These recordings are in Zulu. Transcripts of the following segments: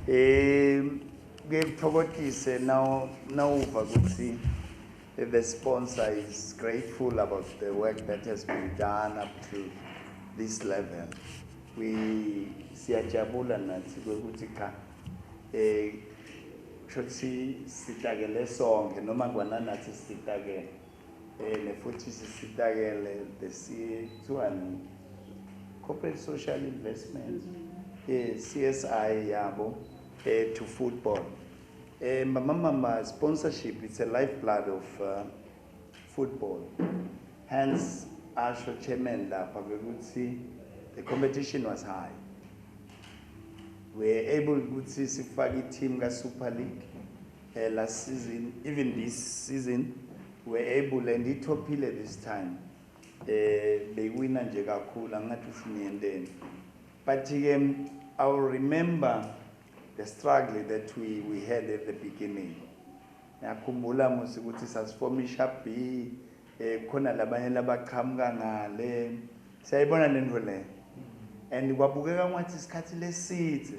Eh kuye kuthokothise now nawuva ukuthi the sponsor is grateful about the work that has been done up to this level. We siyajabula nathi ukuthi cha eh shothi sitakele sonke noma kwananathi sitakele Ene futhi sisitakele besithiwani corporate social investment eh CSI yabo eh to football eh mama mama sponsorship it's a lifeblood of uh, football hence asho chairman lapha ukuthi the competition was high we were able ukuthi sifake i-team ka-super league uh, last season even this season were able and ithophile this time eh beyiwina nje kakhulu angathi ufinyenteni but ke i will remember the struggle that we we had at the beginning ngiyakhumbula musi ukuthi sasifoma ishap B eh khona labanye labaqhamuka ngale siyayibona lento le and kwabukeka ngathi isikhathi lesithe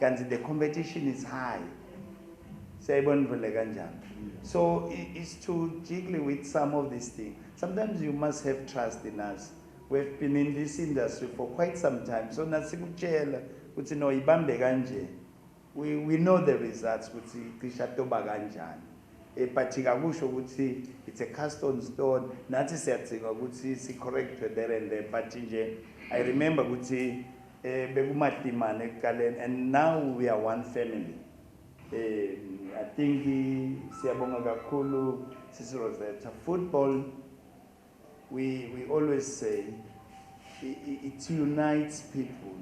kanti the competition is high siyayibona into le kanjani so it's to jiggly with some of these things sometimes you must have trust in us we've been in this industry for quite some time so nasikutshela ukuthi no ibambe kanje we, we know the results ukuthi cisha toba kanjani eh, but kakusho ukuthi it's a cast on stone nathi siyadzinga ukuthi si-correctwe there and there but nje i remember ukuthi Eh bekumatimane ekuqaleni and now we are one family. Eh I think siyabonga kakhulu sisi Rosetta. Football we we always say it unites people.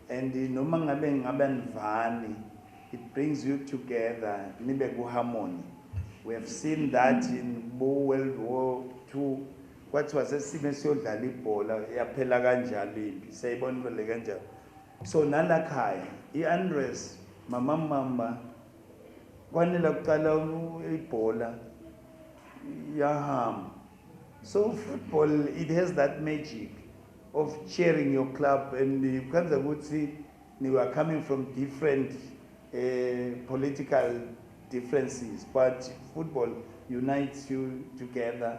And noma ngabe ngabe nivani it brings you together nibe ku harmony. We have seen that in World War II Kwathiwa sesime siyodlala ibhola yaphela kanjalo impi siyayibona into le kanjalo so nalakhaya i-andres mama mamba kwanela kuqala ibhola yahamba so football it has that magic of cheering your club and kwenza ukuthi we are coming from different uh, political differences, but football unites you together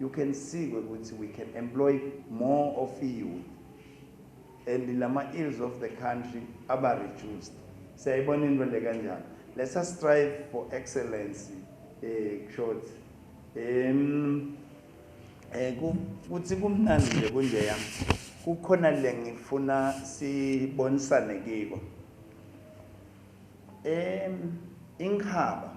You can see ke ukuthi we can employ more of youth and lama ills of the country aba reduced siyayibona into le kanjalo let's us strive for excellence eh short em eh kuthi kumnandi nje kunje yami kukhona le ngifuna sibonisane kiko em inkhaba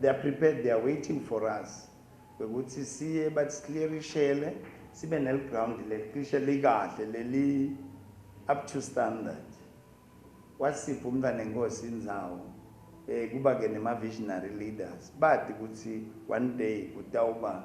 They are prepared, they are waiting for us. Ukuthi siye bathi siklerishele sibe nel ground leliklishe likahle leli up to standard. Wasipha umntana inkosi inzawo. Eh kuba ke nema visionary leaders. Bathi ukuthi one day kutawuba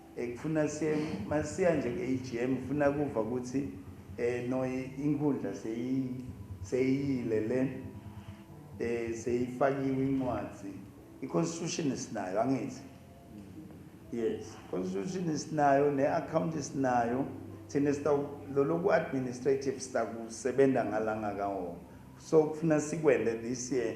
Ekufuna shem masiya nje eAGM ngifuna kuva kuthi eh no inkundla seyi seyiyile le eh seyifakiwe incwadi iconstitution sinayo angithi yes constitution sinayo neaccount sinayo thina sita loloku administrative sita kusebenza ngalanga kawo so kufuna sikwele this year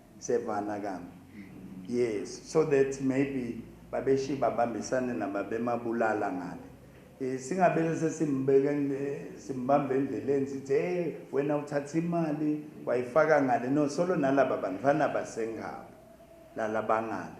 Sevana kami. Yes, so that maybe babeshi babambisane nababemabulala ngale. Eh, singabele sesimbeke simbambe endleleni sithi hey wena uthatha imali wayifaka ngale no solo nalaba bantu fanele basengabo lalabangale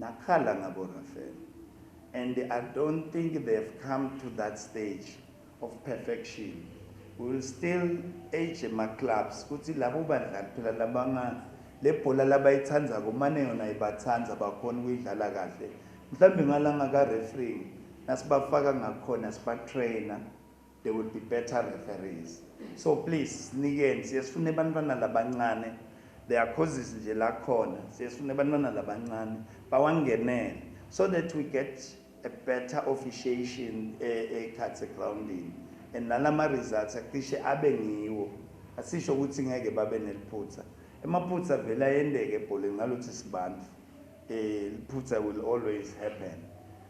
Nakhala ngabo Raphel and I don't think they have come to that stage of perfection we will still age ema clubs kuthi labo badlali phela labanga lebhola labayithandzako mane yona ibathanda bakhona ukuyidlala kahle mhlawumbe ngalanga ka referee nasibafaka ngakhona sibatrainer They will be better referees. So please sinikeni siyesifuna abantwana labancane. There are causes nje la khona siyesifuna abantwana labancane bawangenele so that we get a better officiation ekhathi eh, eh, grounding and nalama results acishe abe ngiwo asisho ukuthi ngeke babe neliphutha emaphutha vele ayendeke ebholeni ngalothi sibantu eh liphutha will always happen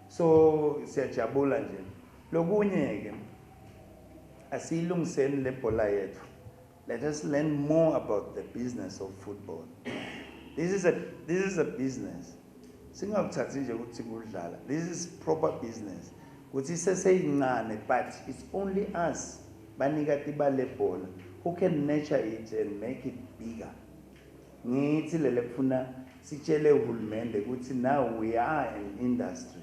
so siyajabula nje Lokunye ke asiyilungiseni lebhola yethu. Let us learn more about the business of football. This is a this is a business. Singakuthathi nje ukuthi kudlala. This is proper business. Kuthi seseyincane but it's only us banika tiba lebhola who can nurture it and make it bigger. Ngithi lele kufuna sitshele uhulumende ukuthi now we are an industry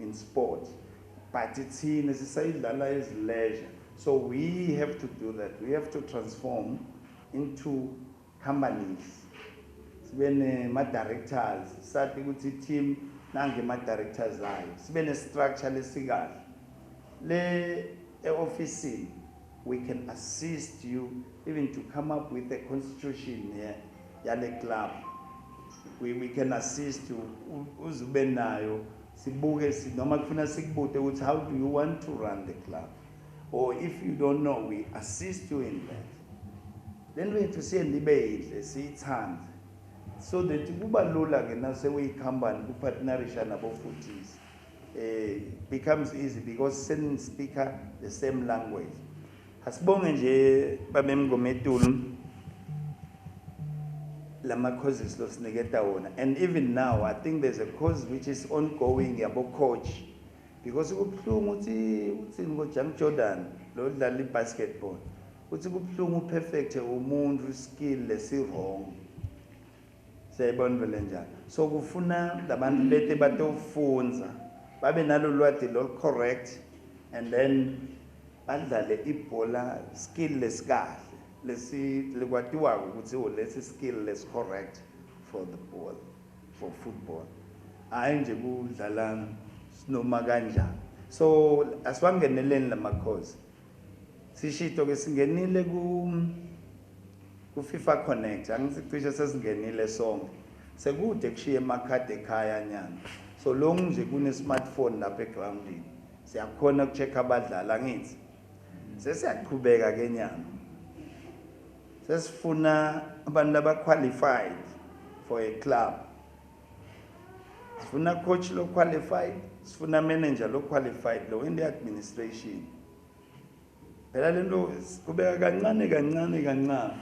in sport but thina sisayidlala as leisure so we have to do that we have to transform into companies sibe nema-directors sathi ukuthi i-team nange ama-directors ayo sibe ne-structure lesikahle le e-ofisini We can assist you even to come up with a constitution here yale club. We, we can assist you uze ube nayo sibuke noma kufuna sikubute ukuthi how do you want to run the club or if you don't know we assist you in that. Le nto yethu siye nibe yidle siyithande so that kuba lula-ke naseweyi-company kuphathinarisha nabo futhisi becomes easy because sen speaker the same language asibonge nje babemngometulu lama causes lo siniketa wona and even now i think there's a cause which is ongoing yabo coach because kubuhlungu uthi uthini ngo Jang Jordan lo dlala ibasketball uthi kubuhlungu perfect umuntu skill lesi wrong Siyayibona into lenjalo. So kufuna labantu bete batofunza babe nalolwadi lol correct and then badlale ibhola skill lesikahle lesi likwatiwako ukuthi oh, lesi skill lesi correct for the ball for football hayi nje kudlala sinoma kanjani so asiwangeneleni lamakhosi Sishito ke singenile ku ku FIFA Connect angisi cishe sesingenile sonke sekude kushiye emakhadi ekhaya nyana so long nje kune smartphone lapha egroundini siyakhona ukucheck abadlali angithi sesiyaqhubeka ke nyana sesifuna abantu abaqualified for a club sifuna coach lo qualified sifuna manager lo qualified lo in the administration phela lento kubeka kancane kancane kancane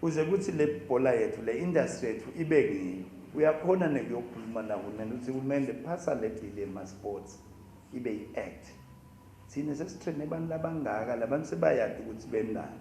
uze kuthi le bhola yethu le industry yethu ibe ngiyo uyakhona nekuyokhuluma nahulumeni ukuthi kumele phasa le bill yema-sports ibe yi-act thina sesithene abantu labangaka labantu sebayadi ukuthi benani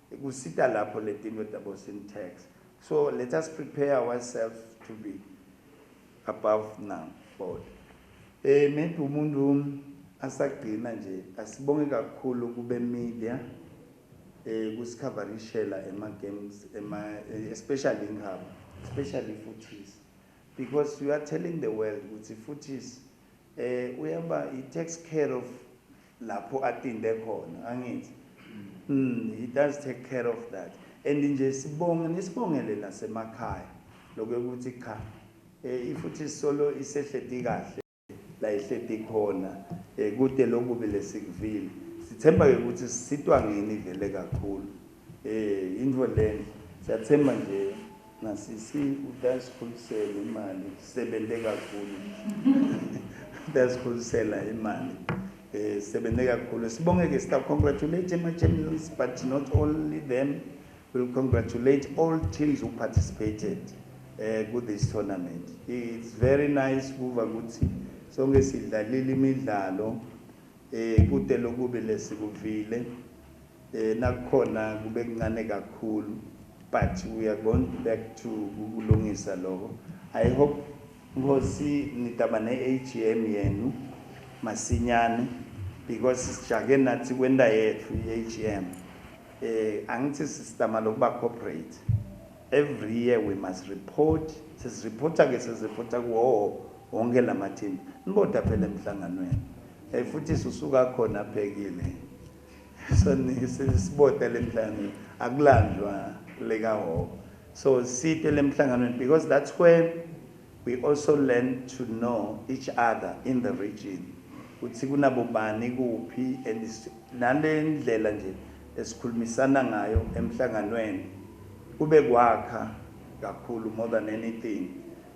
Kusita lapho letintfo tabo syntax so let us prepare ourselves to be above now board. Eh maybe umuntu asagcina nje asibonge kakhulu kube media eh kusikhavarishela ema games ema eh, especially inkhaba especially futhisi because you are telling the world ukuthi futhisi Eh uyaba he takes care of lapho atinde khona angithi. Mm he does take care of that. And nje sibonge nisibongele nasemakhaya lokho ukuthi cha eh ifuthi solo isehledi kahle la ihledi khona eh, kude lokubi lesikuvile sithemba ke ukuthi sisitwa ngini vele kakhulu Eh into lena siyathemba nje nasisi udasikhulisela imali sebenze kakhulu udasikhulisela imali eh sebenze kakhulu sibonge ke sita congratulate ama champions but not only them will congratulate all teams who participated eh ku this tournament it's very nice kuva ukuthi sonke sidlalile imidlalo eh kude lokube lesikuvile Nakukhona kube kuncane kakhulu but we are going back to kukulungisa loko. I hope Nkosi nitaba ne AGM yenu masinyane because sijake nathi kwenta yethu i AGM. Angithi sistama lokuba corporate. Every year we must report, sesi reporta ke sesi reporta kuwo wonke lamathimba. Niboda phela emhlanganweni. Futhi susuka khona abhekile. Soningi sibota lemhlangano akulandwa leka hoko. So site lemhlanganweni because that's where we also learn to know each other in the region. Uthi kunabobani kuphi and nalendlela nje esikhulumisana ngayo emhlanganweni kube kwakha kakhulu more than anything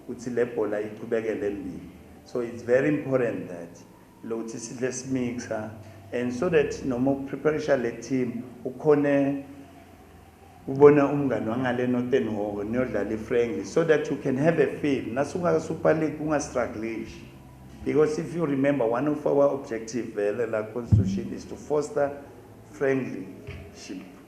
ukuthi lebhola iqhubekele embili. So it's very important that lokuthi sidle simixa and so that noma upreparisha le team ukhone ubone umngane wangale notenhoko niyodlala ifriendly so that you can have a feel nasungaka-super league ungastrugglish because if you remember one of our objective vele la constitution is to foster friendlyship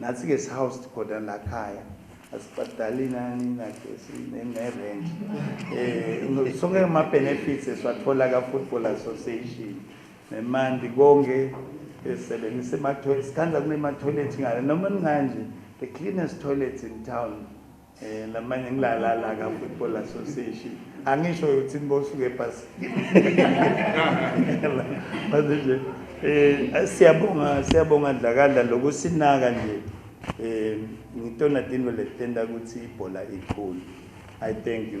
Nathi ke si housed khona la khaya. Asibhadali nani na gesi ne rent. Eh sonke ma benefits esiwathola ka Football Association. Nemandi konke esebenzisa ema toilets. Sikhandla kune ma toilets ngale noma ninganje the cleanest toilets in town. Eh lamanye ngilalala ka Football Association. Angisho ukuthi nibosuke ebhasini. Manje nje eh siyabonga siyabonga dlakadla lokusinaka nje. Eh ngitona tinto letenda ukuthi ibhola ikhulu. I thank you.